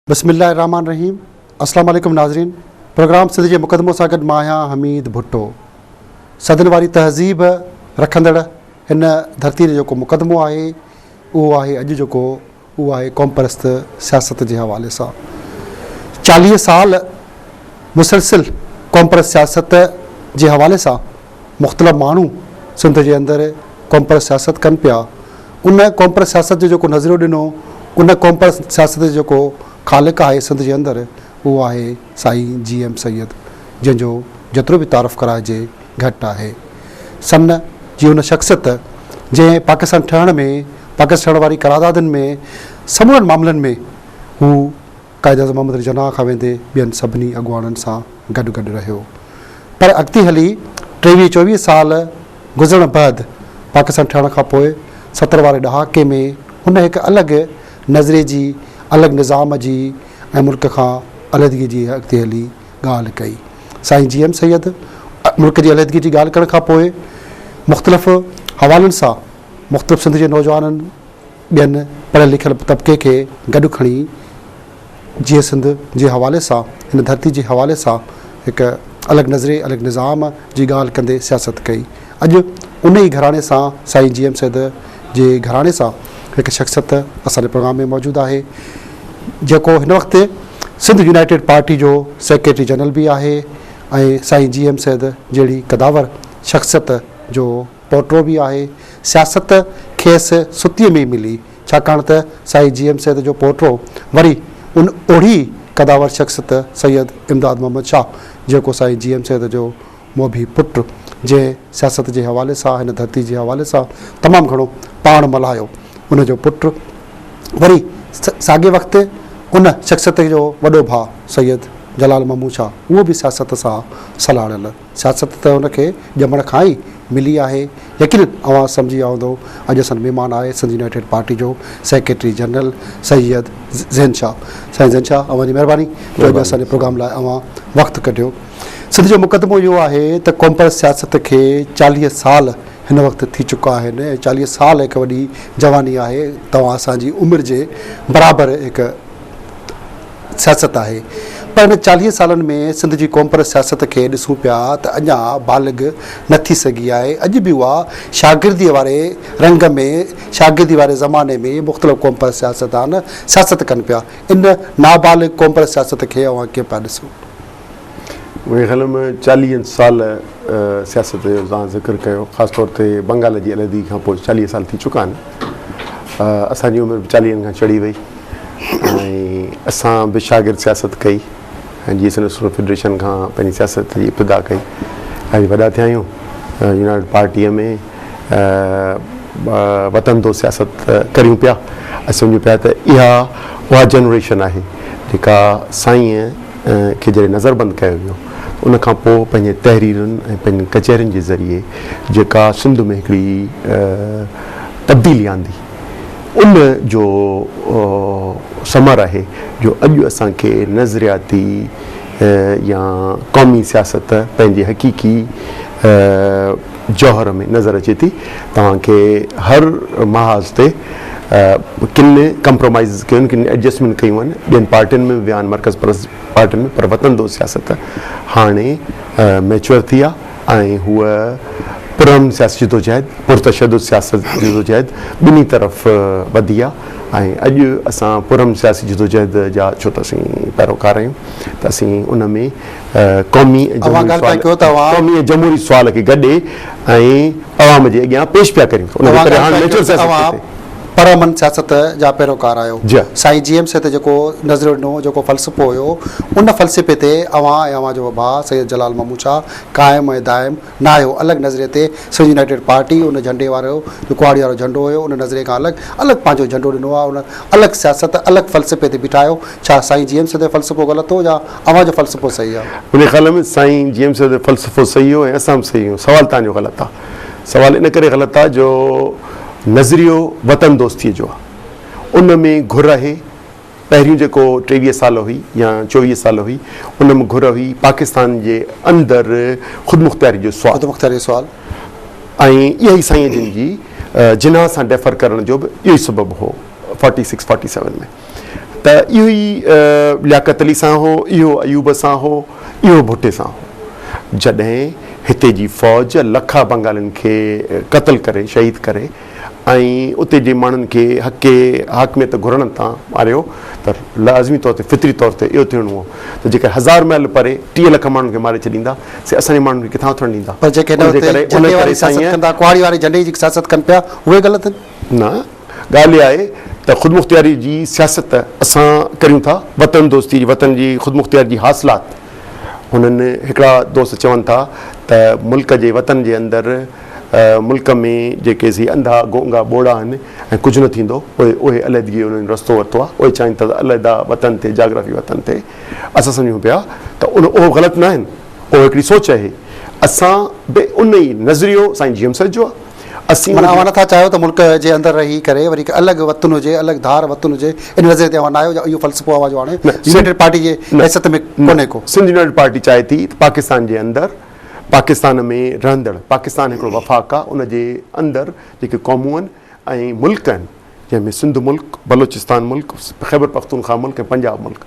بسم الله الرحمن الرحيم اسلام عليڪم ناظرين پروگرام سنڌ جي مقدمو سان گڏ مان آهيان حميد ڀٽو صدن واري تهذيب رکندڙ هن ڌرتي جو جيڪو مقدمو آهي اهو آهي اڄ جيڪو هو آهي قومپرست سياست جي حوالي سان چاليهه سال مسلسل قومپرست سياست جي حوالي سان مختلف ماڻهو سنڌ جي اندر قومپرست سياست ڪن پيا ان قومپرست سياست جو جيڪو نظريو ڏنو ان قومپرست سياست جو جيڪو خالق آهي سنڌ جي اندر اهو آهي سائين جي ايم سيد جنهن جو جيترو به تعارف ڪرائجي گهٽ آهي. سمنه جي ان شخصيت جنهن پاڪستان ٺهڻ ۾ پاڪستان ٺهڻ واري قراردادن ۾ سمورن معاملن ۾ هو قائداعظم محمد علي جناح کان ويندي ٻين سڀني اڳواڻن سان گڏ گڏ رهيو پر اڳتي هلي ٽيويهه چوويهه سال گذرڻ بعد پاڪستان ٺهڻ کان پوء ستر واري ڏهاڪي ۾ هن هڪ الڳ نظريي جي الڳ نظام جي ۽ ملڪ کان علحدگي جي اڳتي هلي ڳالهه ڪئي. سائين جي ايم سيد ملڪ جي عليحدگي جي ڳالهه ڪرڻ کان پوء مختلف حوالن سان مختلف سنڌ جي نوجوانن ٻين پڙهيل لکيل طبقي کي گڏ کڻي جيئن سنڌ جي حوالي سان هن ڌرتي جي حوالي سان هڪ الڳ نظرئي الڳ نظام جي ڳالهه ڪندي سياست ڪئي. اڄ ان ئي گهراڻي سان سائين جي ايم سيد جي گهراڻي سان هڪ شخصيت اسان جي پروگرام ۾ موجود آهي جيڪو هن وقت سنڌ يونائيٽيڊ پارٽي جو سيڪريٽري جنرل به آهي ۽ سائين جي ايم سيد جهڙي قداور شخصيت جو پوٽو به آهي. سياست کيس ستيء ۾ ئي ملي، ڇاڪاڻ ته سائين جي ايم سيد جو پوٽو وري ان اوڙي قداور شخصيت سيد امداد محمد شاهه جيڪو سائين جي ايم سيد جو موڀي پٽ، جنهن سياست جي حوالي سان هن ڌرتي جي حوالي سان تمام گهڻو پاڻ ملهايو، ان جو پٽ وري ساڳئي وقت تي ان شخصيت جو وڏو ڀاء سيد جلال محمود شاهه اهو به سياست سان سلهاڙيل. سياست ته هن کي ڄمڻ کان ئي ملي آهي. يقينن اوهان سمجهي ويا هوندؤ اڄ اسان مهمان آهي سنڌ يونائيٽيڊ پارٽي جو سيڪريٽري جنرل سيد زين شاهه. سائين زين شاهه اوهان جي مهرباني جو اڄ اسان جي پروگرام لاء اوهان وقت ڪڍيو. سنڌ جو مقدمو اهو آهي ته قومپرست سياست کي چاليهه سال هن وقت ٿي چڪا آهن ۽ چاليهه سال هڪ وڏي جواني آهي. توهان اسان جي عمر جي برابر هڪ سياست آهي. پر هن چاليهه سالن ۾ سنڌ جي قومپرست سياست کي ڏسون پيا ته اڃا بالغ نه ٿي سگهي آهي. اڄ به اها شاگرديء واري رنگ ۾ شاگردي واري زماني ۾ مختلف قومپرست سياستدان سياست ڪن پيا. ان نابالغ قومپرست سياست کي اوهان ڪيئن پيا ڏسو؟ مون کي خيال آهي مان چاليهن سال سياست جو توهان ذڪر ڪيو خاص طور تي بنگال جي علحدگي کان پوء چاليهه سال ٿي چڪا آهن اسان جي عمر به چاليهن کان چڙهي وئي ۽ اسان به شاگرد سياست ڪئي ۽ جي سنڌ سپورٽس فيڊريشن کان پنهنجي سياست جي ابتدا ڪئي اڄ وڏا ٿيا آهيون يونائٽيڊ پارٽيء ۾ وطن دو سياست ڪريون پيا ۽ سمجهون پيا ته اها اها جنريشن آهي جيڪا سائين کي جڏهن نظربند ڪيو ويو ته ان کان پوء پنهنجين تحريرن ۽ پنهنجين ڪچهرين جي ذريعي جيڪا سنڌ ۾ هڪڙي تبديلي آندي ان جو ثمر آهي جو اڄ اسان کي نظرياتي يا قومي سياست پنهنجي حقيقي جوهر ۾ نظر اچي ٿي توهان کي هر محاذ تي ڪن ڪمپرومائيزز ڪيون ڪن ايڊجسٽمينٽ ڪيون آهن ٻين پارٽين ۾ به ويا آهن مرڪز پرست پارٽين ۾ پر وطن دوست سياست هاڻي ميچوئر ٿي آهي ۽ هوء پرامن سياسي جدوجهد پرتشدد سياسي جدوجهد ٻنهي طرف وڌي آهي ۽ اڄ اسان پرامن سياسي جدوجهد جا ڇو ته اسين پيروڪار آهيون ته اسين ان ۾ قومي ۽ جمهوري سوال کي گڏي ۽ عوام جي اڳيان پيش پيا ڪريون ته ان کي پريهاڻ نيچرل سياست ڪهي پئي. پر امن سياست جا پيروڪار آهيو. سائين جي ايم سي تي جيڪو نظريو ڏنو هو، جيڪو فلسفو هيو، ان فلسفي تي اوهان ۽ اوهان جو اڀاء سيد جلال محمود شاهه قائم ۽ دائم. ناهيو، الڳ نظريي تي سنڌ يونائيٽيڊ پارٽي ان جهنڊي وارو جو ڪهاڙي وارو جهنڊو هيو ان نظريي کان الڳ الڳ پنهنجو جهنڊو ڏنو آهي ان الڳ سياست الڳ فلسفي تي بيٺاهيو ڇا سائين جي ايم سيد جو فلسفو غلط هو يا اوهان جو فلسفو صحيح آهي. منهنجي خيال ۾ سائين جي ايم سيد جو فلسفو صحيح هو ۽ اسان به صحيح هيون سوال توهان جو غلط آهي سوال ان ڪري غلط آهي جو نظريو وطن دوستي جو آهي ان ۾ گهر آهي. پهريون جيڪو ٽيويهه سال هئي يا چوويهه سال هئي ان م گهر هئي پاڪستان جي اندر خودمختياري جو سوال خودمختياري جو سوال ۽ اها ئي سائين جن جي جناح سان ڊيفر ڪرڻ جو به اهو ئي سبب هو فورٽي سڪس فورٽي سيون ۾ ته اهو ئي لياقت علي سان هو اهو ايوب سان هو اهو ڀٽي سان هو جڏهن هتي جي فوج لکا بنگالين کي قتل ڪري شهيد ڪري ۽ اتي جي ماڻهن کي حقي حاڪميت گهرڻ تان ماريو ته لازمي طور تي فطري طور تي اهو ٿيڻو هو ته جيڪر هزار ميل پري ٽيهه لک ماڻهن کي ماري ڇڏيندا سي اسان جي ماڻهن کي ڪٿان اٿڻ ڏيندا؟ پر جيڪي هن وقت جهنڊي واري سياست ڪن ٿا، ڪهاڙي واري جهنڊي جي سياست ڪن پيا، اهي غلط آهن؟ نه، ڳالهه اها آهي ته خودمختياري جي سياست اسان ڪريون ٿا، وطن دوستي جي، وطن جي خودمختياري جي حاصلات هنن هڪڙا دوست چون ٿا ته ملڪ جي وطن جي اندر، ملڪ ۾ جيڪي سي انڌا گونگا ٻوڙا آهن ۽ ڪجهه نه ٿيندو پوء اهي علحدگي جو انهن رستو ورتو آهي اهي چاهين ٿا ته علحده وطن تي جاگرافي وطن تي اسان سمجهون پيا ته ان اهو غلط نه آهن اهو هڪڙي سوچ اهي اسان به ان ئي نظريو سائين جي ايم سيد جو آهي اسين معنيٰ اوهان نه ٿا چاهيو ته ملڪ جي اندر رهي ڪري وري هڪ الڳ وطن هجي الڳ ڌار وطن هجي ان نظريي تي اوهان نه آهيو يا اهو فلسفو اوهان جو هاڻي يونائيٽيڊ پارٽي جي حيثيت ۾ ڪونهي ڪو. سنڌ يونائيٽيڊ پارٽي چاهي ٿي ته پاڪستان جي اندر. پاڪستان ۾ رهندڙ پاڪستان هڪڙو وفاق آ ان جي اندر جيڪي قومون آهن ۽ ملڪ آهن جنهن ۾ سنڌ ملڪ، بلوچستان ملڪ، خيبر پختونخواه ملڪ ۽ پنجاب ملڪ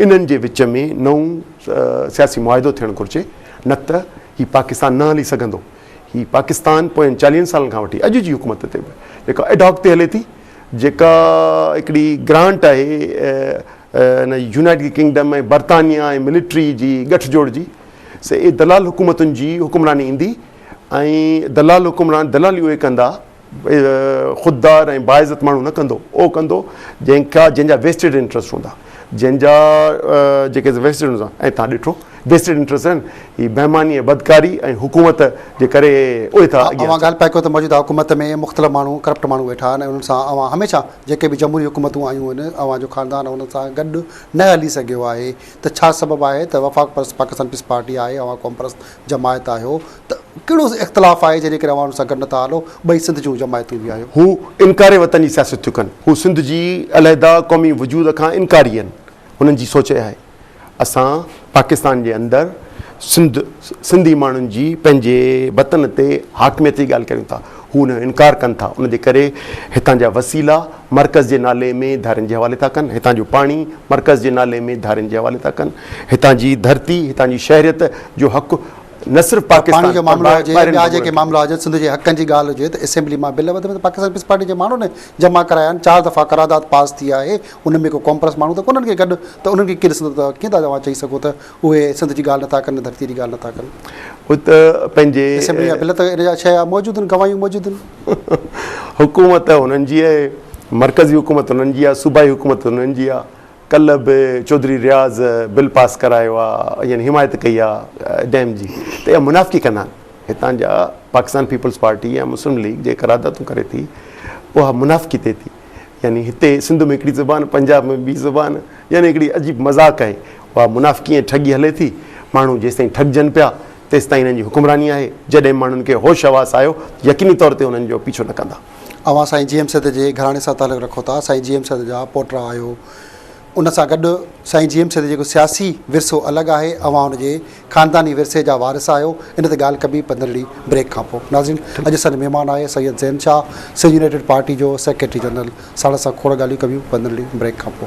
انهن جي وچ ۾ نئون سياسي معاهدو ٿيڻ گهرجي نه ته هي پاڪستان نه هلي سگهندو هي پاڪستان پوين چاليهن سالن کان وٺي اڄ جي حڪومت تي به جيڪا ايڊهاڪ تي هلي ٿي جيڪا هڪڙي گرانٽ آهي ان جي يونائيٽيڊ ڪنگڊم ۽ برطانيا ۽ ملٽري جي ڳٺ جوڙ جي سي اي دلال حڪومتن جي حڪمراني ايندي ۽ دلال حڪمران دلالي اهي ڪندا خوددار ۽ باعزت ماڻهو نه ڪندو اهو ڪندو جنهن کان جنهن جا ويسٽيڊ انٽرسٽ هوندا جنهن جا جيڪي ويسٽيڊ هوندا ۽ تان ڏٺو ويسٽيڊ انٽرسٽ آهن هي بهماني ۽ بدڪاري ۽ حڪومت جي ڪري اهي ٿا اڳيان اوهان ڳالهه پئي ڪيو ته موجوده حڪومت ۾ مختلف ماڻهو ڪرپٽ ماڻهو ويٺا آهن ۽ انهن سان اوهان هميشه جيڪي به جمهوري حڪومتون آيون آهن اوهان جو خاندان انهن سان گڏ نه هلي سگهيو آهي ته ڇا سبب آهي ته وفاق پرست پاڪستان پيپلز پارٽي آهي اوهان قوم پرست جماعت آهيو ته ڪهڙو اختلاف آهي جنهن جي ڪري اوهان ان سان گڏ نٿا هلو ٻئي سنڌ جون جماعتون به آهيون. هو انڪار وطن جي سياست ٿيون ڪن هو سنڌ جي علحده قومي وجود کان انڪاري آهن هنن جي سوچ اها آهي اسان پاڪستان جي اندر سنڌ سنڌي ماڻهن جي پنهنجي وطن تي حاڪميت جي ڳالهه ڪريون ٿا هو ان جو انڪار ڪن ٿا، ان جي ڪري هتان جا وسيلا مرڪز جي نالي ۾ ڌارين جي حوالي ٿا ڪن، هتان جو پاڻي مرڪز جي نالي ۾ ڌارين جي حوالي ٿا ڪن، هتان جي ڌرتي، هتان جي شهريت جو حق نه صرف پاڪستان پر ٻاهرين ملڪن کي ملي ٿو. پر پاڻي جو معاملو هجي يا ٻيا جيڪي معاملا هجن، سنڌ جي حقن جي ڳالهه هجي ته اسيمبلي مان بل وڌ ۾ وڌ پاڪستان پيپلز پارٽي جي ماڻهن جمع ڪرايا آهن، چار دفعا قرارداد پاس ٿي آهي، ان ۾ ڪو ڪانپرس ماڻهو ته ڪونهن ڪي گڏ ته انهن کي ڪير ڏسندو ته ڪيئن ٿا اوهان چئي سگهو ته اهي سنڌ جي ڳالهه نٿا ڪن نه ڌرتي جي ڳالهه نٿا ڪن. هو ته پنهنجي. اسيمبلي يا بل ته ان جا ڇهه موجود آهن گواهيون موجود آهن. حڪومت هنن جي آهي، مرڪزي حڪومت هنن جي آهي، صوبائي حڪومت هنن جي آهي. ڪلهه به چوڌري رياض بل پاس ڪرايو آهي يعني حمايت ڪئي آهي ڊيم جي ته اها منافقي ڪندا آهن. هتان جا پاڪستان پيپلز پارٽي يا مسلم ليگ جي قراردادون ڪري ٿي اها منافقي تي ٿي يعني هتي سنڌ ۾ هڪڙي زبان پنجاب ۾ ٻي زبان يعني هڪڙي عجيب مذاق آهي. اها منافقي ۽ ٺڳي هلي ٿي. ماڻهو جيستائين ٺڳجن پيا، تيستائين انهن جي حڪمراني آهي. جڏهن ماڻهن کي هوش حواس آيو ته يقيني طور تي انهن جو پيڇو نه ڪندا. اوهان سائين جي ايم سيد جي گهراڻي سان تعلق رکو ٿا، سائين جي ايم سيد جا پوٽرا آهيو. ان سان گڏ سائين جي ايم سيد جو جيڪو سياسي ورثو الڳ آهي، اوهان ان جي خانداني ورثي جا وارث آهيو ان تي ڳالهه ڪبي پندرهن ڏينهن بريڪ کانپو. ناظرين اڄ اسان جو مهمان آهي سيد زين شاهه سنڌ يونائيٽيڊ پارٽي جو سيڪريٽري جنرل ساڻس اسان کوڙ ڳالهيون ڪبيون پندرهن ڏينهن بريڪ کانپو.